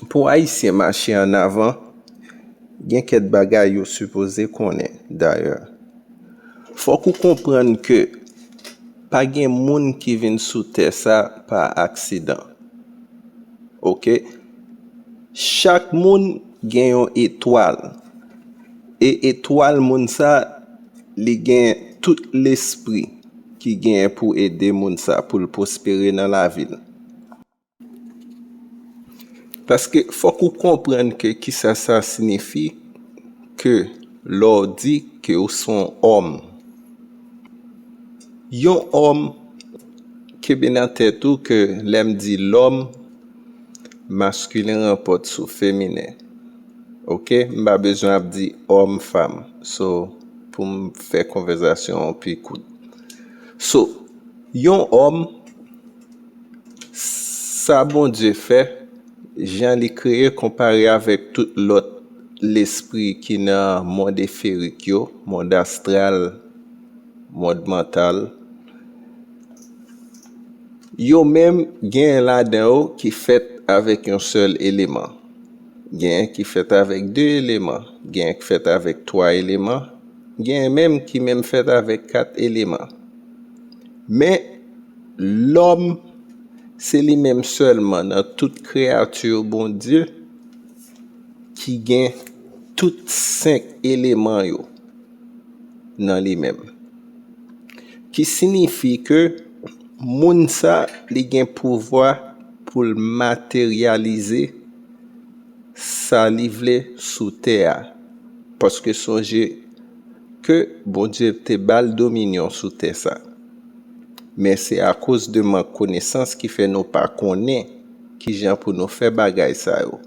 Pou ayisyen mache an avan, gen kèt bagay yo sipoze konnen. Dayè, fòk ou konprann ke pa gen moun ki vin sou tè sa pa aksidan. Ok, chak moun gen yon etwal, e etwal moun sa, li gen tout lespri ki gen pou ede moun sa pou l pwospere nan lavi l. Paske fòk ou konprann ke kisa sa sinifi ke lè w di ke w se yon òm. Yon òm kenbe nan tèt ou ke lè m di lòm, maskilen ranpòt sou feminen. Ok, m pa bezwen ap di òm, fanm. So, pou m fè konvèzasyon an pi kout. So, yon òm. Sa Bondye fè, jan li kreye konpare avèk tout lòt lespri ki nan mond eferik yo, mond astral, mond mantal, yo menm genyen ladan yo ki fèt avèk yon sèl eleman, genyen ki fèt avèk de eleman, genyen ki fèt avèk twa eleman, genyen menm ki menm fèt avèk kat eleman. Men. Lòm, se li menm sèlman nan tout kreyati Bondye ki gen tout senk eleman yo nan li menm. Ki sinifi ke moun sa li gen pouvwa pou l materyalize sa li vle sou tè a. Paske sonje ke Bondye te ba l dominyon sou tè sa. Men se akoz de mank konesans ki fè nou pa konnen ki jan pou nou fè bagay sa yo.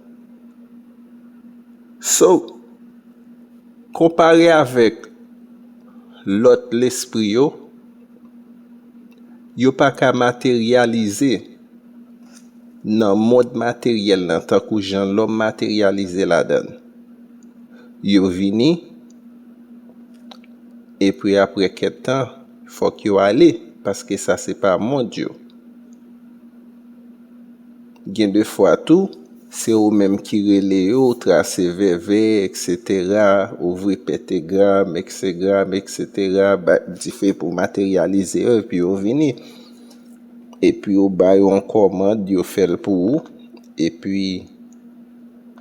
So, konpare avèk lòt lespri yo, yo pa ka materyalize nan mond materyèl lan tankou jan lòm materyalize ladan l. Yo vini, epi apre kèk tan. Fok yo ale paske sa se pa mond yo. Gen de fwa tou se ou menm ki rele yo ou trase vèvè etc ouvri petegram exegram etc bat dife pou materyalize yo epi yo vini. Epi ou ba yo yon komand yo fel pou ou epi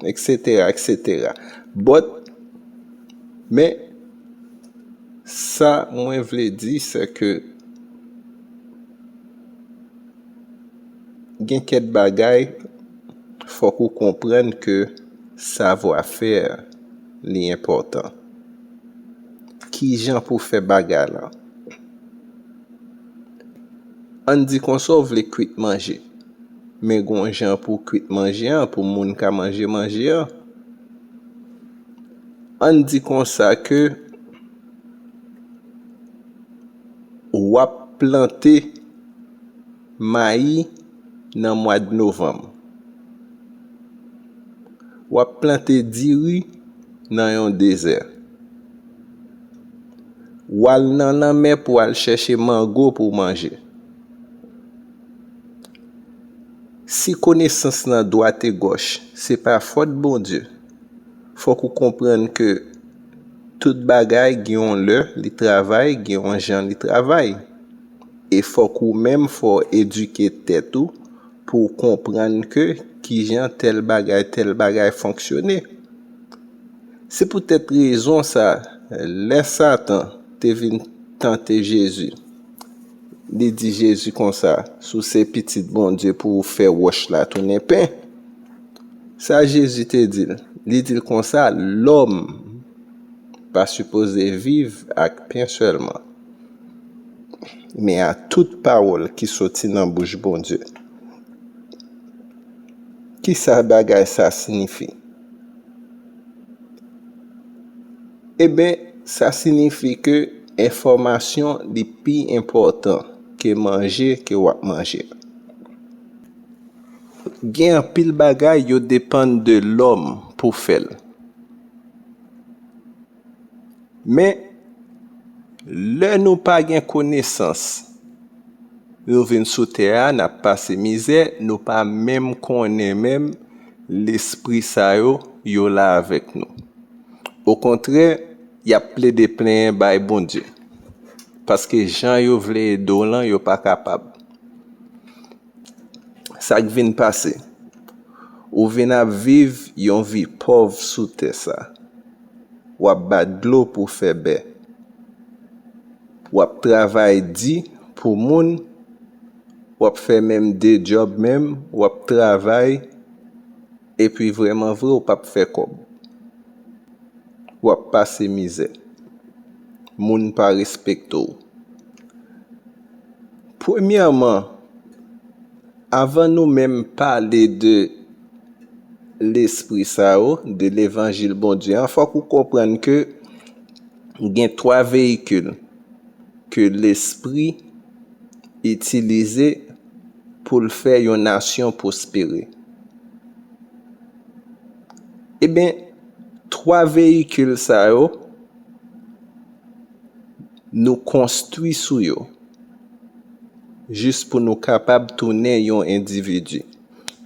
etc etc but men. Sa mwen vle di se ke gen kèk bagay fòk ou konprann ke savwa fè li enpòtan. Kijan pou fè bagay lan? Ann di konsa ou vle kwit manje, men gon jan pou kwit manje an pou moun ka manje manje an. ann di konsa ke w ap plante mayi nan mwad novanm, w ap plante diri nan yon dezè, w al nan lanmè pou w al chèche mango pou w manje. Si konesans nan dwategòch se pa fòt Bondye, fòk ou konprann ke tout bagay gen yon lè li travay, gen yon jan li travay. E fòk ou menm fò edike tèt ou pou w konprann ke ki jan tèl bagay, tèl bagay fonksyone. Se poutèt rezon sa, lè Satan te vin tante Jezi, li di Jezi konsa, Si w se Pitit Bondye pou ou fè wòch la tounen pen. Sa Jezi te di l? Li di l konsa, Lòm pa sipoze viv ak pen sèlman, men a tout pawòl ki soti nan bouch Bondye. Ki sa bagay sa sinifi? Enben, sa sinifi ke enfòmasyon li pi enpòtan ke manje ke w ap manje a. Gen anpil bagay yo depann de lòm pou fè l. Men, lè nou pa gen konesans, nou vin sou tè a, n ap pase mizè, nou pa menm konnen menm lespri sa yo, yo la avèk nou. Okontrè, y ap plede plenyen bay Bondye, paske jan yo vle ede w lan, yo pa kapab. Sa k vin pase? Ou vin ap viv yon vi pòv sou tè sa. W ap bat dlo pou fè bè. W ap travay di pou moun, w ap fè menm de djòb menm, w ap travay. Epi vreman vre ou pap fè kob. Wap pase mizè. Moun pa respekte w. Premyèman avan nou menm pale de lespri sa yo, de levanjil Bondye an, fok ou konprann ke gen 3 veyikil ke lespri itilize. pou l fè yon nasyon pwospere. Eben, twa veyikil sa yo, nou konstwi sou yo, jis pou nou kapab tounen yon endividi.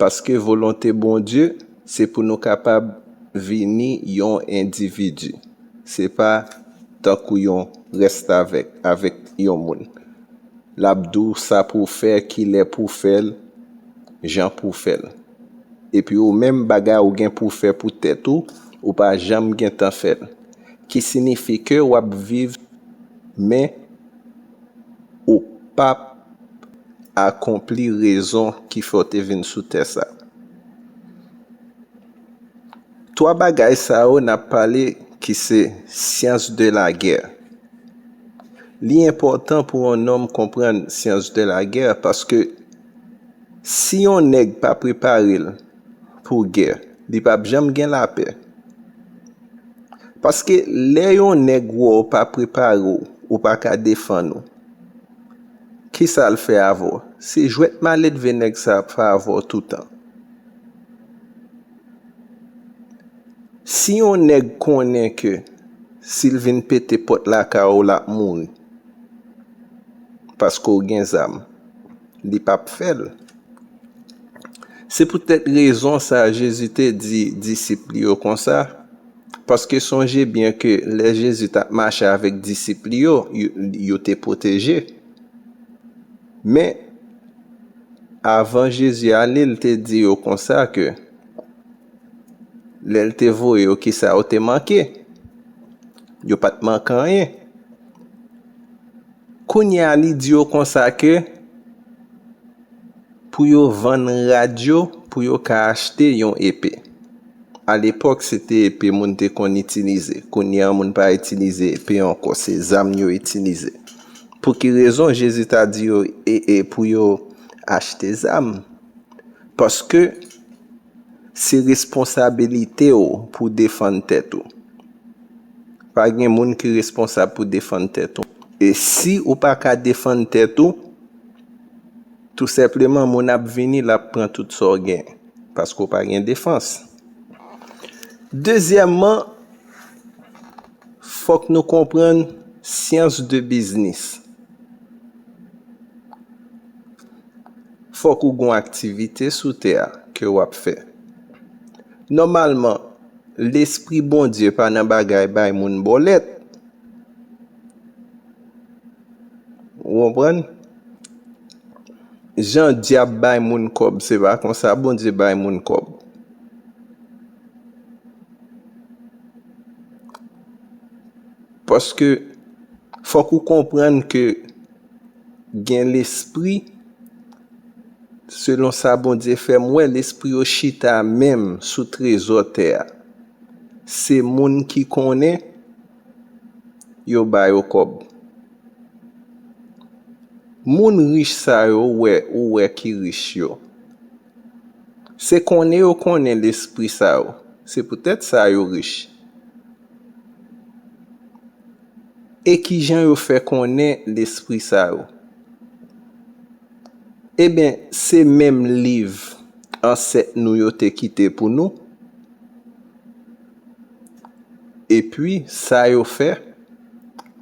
Paske volonte Bondye, se pou nou kapab vini yon endividi. Se pa tankou yon restavèk, avèk yon moun. lap diw sa pouw fè kilè pouw fèl jan pouw fèl epi ou menm bagay ou gen pouw fè pou tèt ou ou pa janm gentan fèl ki sinifi ke wap viv men ou pap akonpli rezon ki fè ou te vin sou tè sa. 3 bagay sa yo nap pale ki se science de la guerre li enpòtan pou yon nonm konprann science de la guerre paske si yon nèg pa prepare l pou gè li pap janm gen lapè paske lè yon nèg wè w pa prepare w ou pa ka defann ou kisa l fè avè w se jwèt maledve nèg sa ap fè avè w toutan Si yon nèg konnen ke si l vin pete pòt lakay ou l ap mouri paske w gen zam, li p ap fè l. Se poutèt rezon sa a Jezi te di disip li yo konsa, paske sonje byen ke lè Jezi t ap mache avèk disip li yo, yo te pwoteje. Men, avan Jezi ale, l te di yo konsa ke lè l te voye yo, kisa yo te manke? Yo pa t manke anyen. Kounye a, li di yo konsa ke pou yo vann rad yo pou yo ka achte yon epe. Alepòk, se te epe moun te konn itilize. Kounye a, moun pa itilize epe ankò, se zam yo itilize. Pou ki rezon Jezi ta di yo pou yo achte zam? Paske, se responsabilite w pou w defann tèt ou. Pa gen moun ki responsab pou defann tèt ou. E si ou pa ka defann tèt ou, tou senpleman moun ap vini l ap pran tout sa w gen, paske w pa gen defans. Dezyèmman. Fòk nou konprann syans de biznis. Fòk ou gon aktivite sou tè a ke ou ap fè. Nòmalman, lespri Bondye pa nan bagay bay moun bòlèt. Ou konprann? Jan dyab bay moun kòb, se pa konsa Bondye bay moun kòb. Paske fòk ou konprann ke gen lespri, selon sa Bondye fè m wè, lespri yo chita menm sou trezò tè a. Se moun ki konnen, yo ba yo kòb. Moun rich sa yo ou wè ki rich yo. Se konnen yo konnen lespri sa yo. Se poutèt sa yo rich. E ki jan yo fè konnen lespri sa yo? Eben, se menm liv ansèt nou yo te kite pou nou. Epi sa yo fè,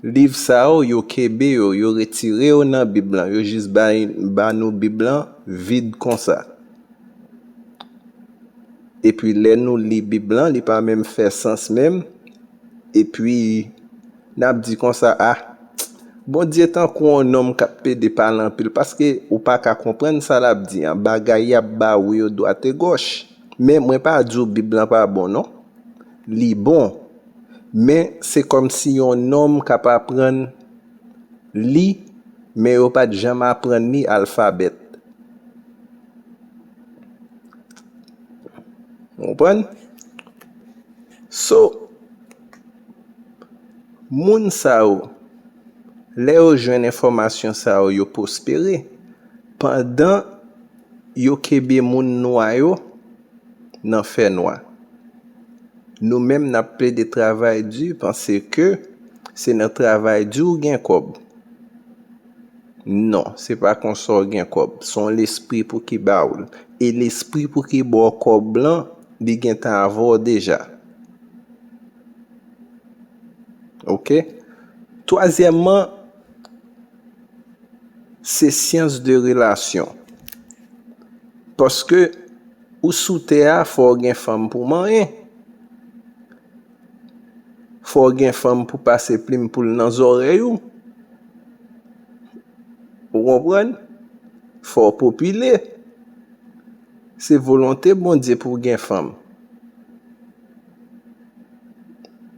liv sa yo, yo kenbe yo, yo retire yo nan Bib lan, yo jis bay ba nou Bib lan vid konsa. Epi lè nou li Bib lan, li pa menm fè sans menm, epi n ap di konsa, a, Bondye tankou yon nonm k ap pede pale anpil, paske ou pa ka konprann sa l ap di an, bagay y ap ba ou yo dwategòch. Men mwen pa di w bib lan pa bon non. Li bon. Men se kòm si yon nonm k ap aprann li men yo pa t janm aprann li alfabèt. Ou konprann? So, moun sa yo, lè yo jwenn enfòmasyon sa yo, yo pwospere. Pandan. Yo kenbe moun nwa yo nan fè nwa. Nou menm nap plede travay di panse ke se nan travay di w gen kòb. Non, se pa konsa w gen kòb. Se yon lespri pou ki ba w l. E lespri pou ki ba w kòb lan, li gentan avè w deja. Ok? Twazyèmman. Se syans de relasyon. Paske ou sou tè a fò ou gen fanm pou manyen. Fò ou gen fanm pou pase plim poul nan zòrèy ou. Ou konprann? Fò ou popile. Se volonte Bondye pou gen fanm.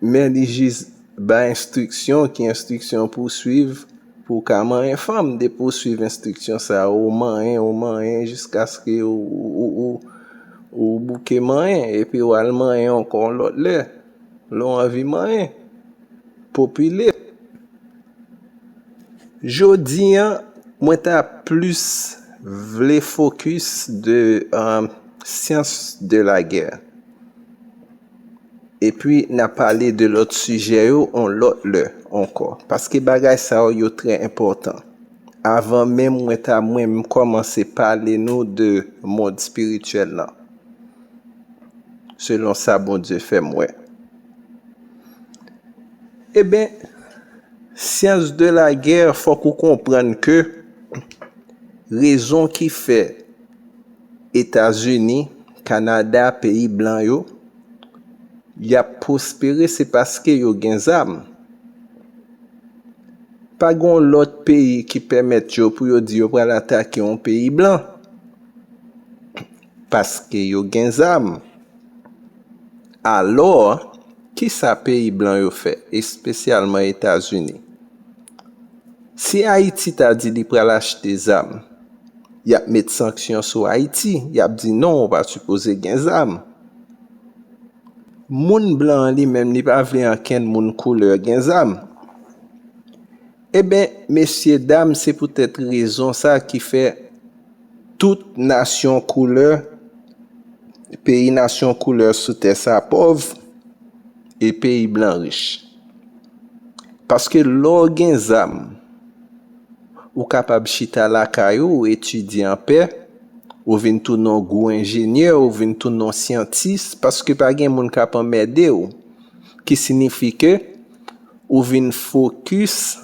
men li jis bay enstriksyon ki enstriksyon pou w swiv pou w ka manyen fanm depi w swiv enstriksyon sa yo ou manyen ou manyen jiskaske ou bouke manyen epi w al manyen ankò yon lòt lè lè w anvi manyen popile jodi an mwen ta plis vle fokis de syans de lagè Epi na pale de lòt sijè yo on lòt lè ankò. Paske bagay sa yo yo trè enpòtan. Avan menm mwen ta mwen kòmanse pale nou de mond spirityèl lan. Selon sa Bondye fè m wè. Eben, syans de la gè fòk ou konprann ke rezon ki fè. Etazini, Kanada, peyi blan yo, y ap pwospere se paske yo gen zam. Pa gen yon lòt peyi ki pèmèt yo pou yo di yo pral atake yon peyi blan. Paske yo gen zam. Alò, ki sa peyi blan yo fè, espesyalman Etazini? Si Ayiti ta di li pral achte zam. yap met sanksyon sou Ayiti, yap di non ou pa sipoze gen zam. Moun blan an li menm li pa vle ankenn moun koulè gen zam. Eben, mesye dam se poutèt rezon sa ki fè tout nasyon koulè, peyi nasyon koulè sou tè sa pòv, e peyi blan rich. Paske lè w gen zam, Ou kapab chita lakay ou, ou etidye anpè, ou vin tounen yon gwo enjenyè, ou vin tounen yon syantis, paske pa gen moun k ap anmède ou. Ki sinifi ke ou vin fokis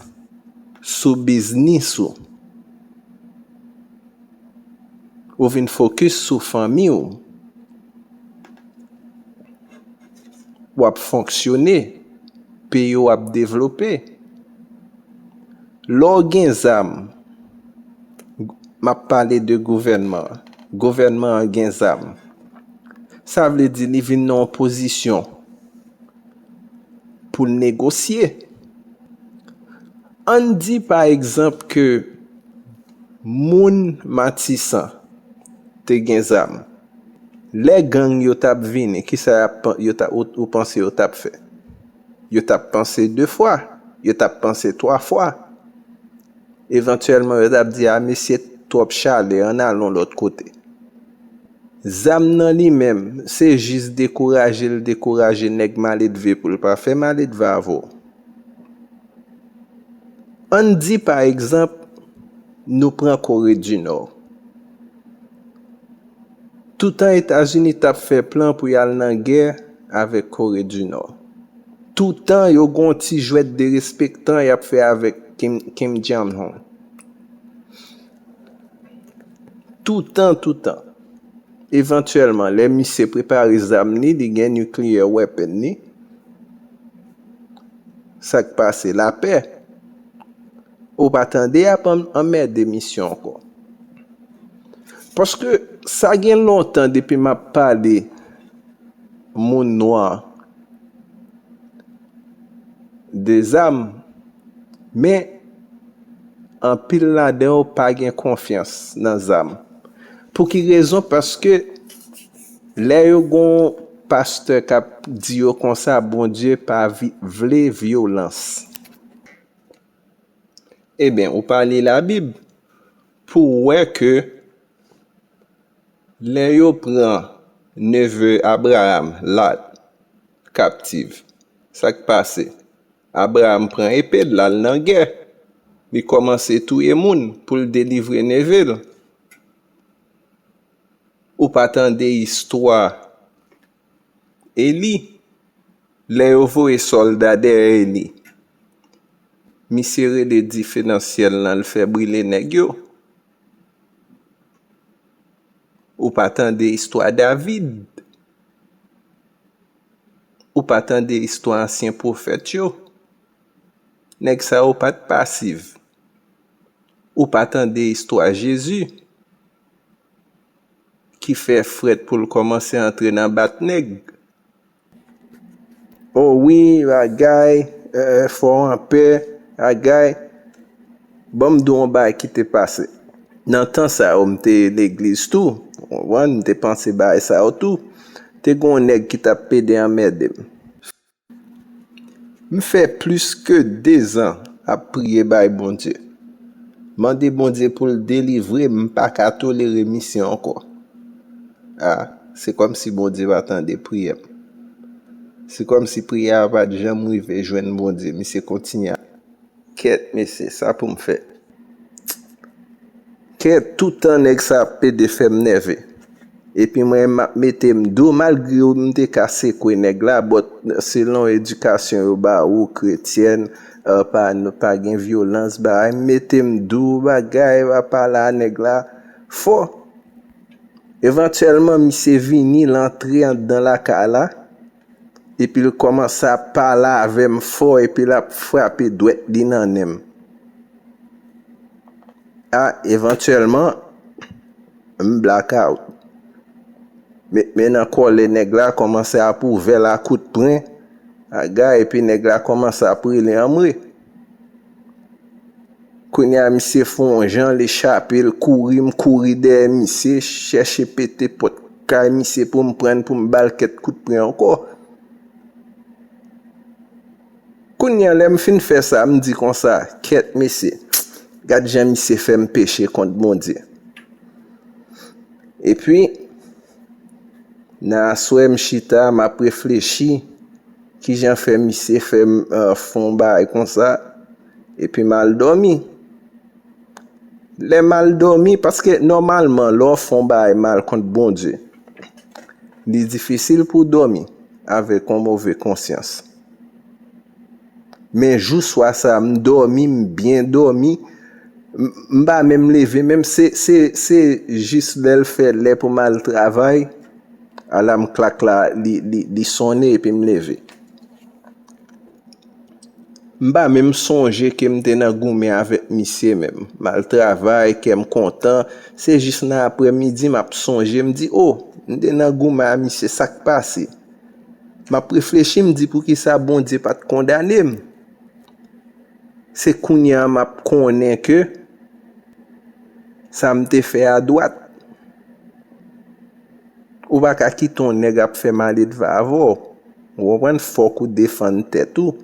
sou biznis ou. Ou vin fokis sou fanmi ou. W ap fonksyone. Peyi w ap devlope. Lè w gen zam, m ap pale de gouvènman, gouvènman an gen zam, sa vle di li vin nan yon pozisyon pou l negosye. An n di pa egzanp ke moun Matisan te gen zam, lè gang yo t ap vini, kisa yo t ap, ou panse yo t ap fè? Yo t ap panse de fwa, yo t ap panse twa fwa. Evantyèlman yo t ap di a mesye twòp chale ann al yon lòt kote. Zam nan li menm, se jis dekouraje l dekouraje nèg maledve pou l pa fè maledve avè w. Ann di pa egzanp nou pran Kore di Nò. Toutan Etazini t ap fè plan pou y al nan gè avèk Kore di Nò. Toutan yo gen yon ti jwèt derespektan y ap fè avèk Kim Jong Un. Toutan, toutan. Evantyèlman, lè misye prepare zam li, li gen nuclear weapon li, sa k pase? Lapè. Ou pa tande y ap anmède misye ankò. Paske sa gen lontan depi map pale moun nwa de zam men anpil ladan yo pa gen konfyans nan zam pou ki rezon paske lè yo gon pastè kap di yo konsa bondye pa vle vyolans eben ou pa li la bib Pou w wè ke lè yo pran neve Abraam, Lat, kaptiv, sa k pase? Abraam pran epe l, l al nan gè, li kòmanse touye moun pou l delivre neve l. Ou pa tande istwa. Eli, lè yo voye sòlda dèyè Eli, misye rele dife nan syèl lan l fè brile nèg yo, ou pa tande istwa David, ou pa tande istwa ansyen pwofèt yo, nèg sa yo pa t pasiv, ou pa tande istwa Jezi. ki fè frèt poul kòmanse antre nan bat nèg oh wi bagay fò anpè bagay banm di w yon bagay ki te pase nan tan sa yo m te legliz tou ou konprann m te panse bagay sa yo tou te gen yon nèg ki tap pede anmède m. M fè plis ke 2 zan ap priye bay Bondye mande Bondye poul delivre m m paka tolere misye ankò ah se kòmsi Bondye pa tande priyèm se kòmsi priyè a pat janm rive jwenn Bondye misye kontinye ap Kèt mesye sa poum fè. Kèt toutan nèg sa ap pede fèm nève. Epi mwen menm map metem do malgre m te ka sekwe nèg la but selon edikasyon yo ba ou kretyèn pa gen vyolans bagay m metem do bagay m ap pale a nèg la fò. Evantyèlman misye vini l antre anndan lakay la. Epil kòmanse ap pale avèm fò epi lap frape dwèt li nan nenm. Ah evantyèlman m blackout. Met men nan kòlè nèg la kòmanse ap ouvèl a kout pren, aga epi nèg la kòmanse ap rele anmwe. Kounye a misye fè yon jan li chape l kouri m kouri dèyè misye chèche pete pòt kay misye pou m prann pou m ba l kèt kout pwen ankò. Kounye a lè m fin fè sa m di konsa kèt mesye gad jan misye fè m peche kont Bondye. Epi nan aswè m chita m ap reflechi. Kijan fè misye fè fon bagay konsa epi m al dòmi? Lè m al dòmi, paske nòmalman lè w fon bagay mal kont Bondye, li difisil pou w dòmi avèk yon move konsyans. Men jou swa sa a, m dòmi, m byen dòmi, m pa menm leve menm, se jis lè l fè lè pou m al travay, Alam klak la li sonnen epi m leve. M pa menm sonje ke m te nan goumen avèk misye menm. M al travay, kè m kontan. Se jis nan aprè midi m ap sonje, m di, oh! M te nan goumen a misye, sa k pase? M ap reflechi, m di poukisa Bondye pa t kondane m? Se kounye a m ap konnen ke sa m te fè a dwat. Ou pa ka kite yon nèg ap fè maledva avè w. Ou konprann? Fòk ou defann tèt ou.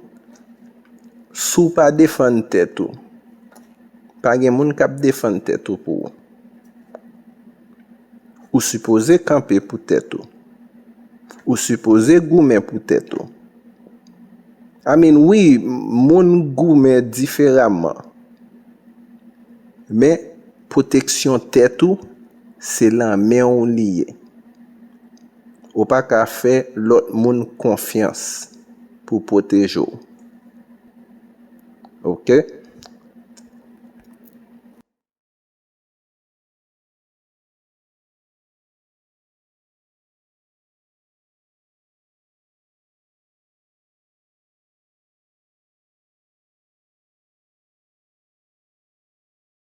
Si w pa defann tèt ou, pa gen moun k ap defann tèt ou pou ou. Ou sipoze kanpe pou tèt ou. Ou sipoze goumen pou tèt ou. I mean, wi, moun goumen diferaman. Men. Pwoteksyon tèt ou se lan men w li ye. Ou pa ka fè lòt moun konfyans pou pwoteje w. Ok.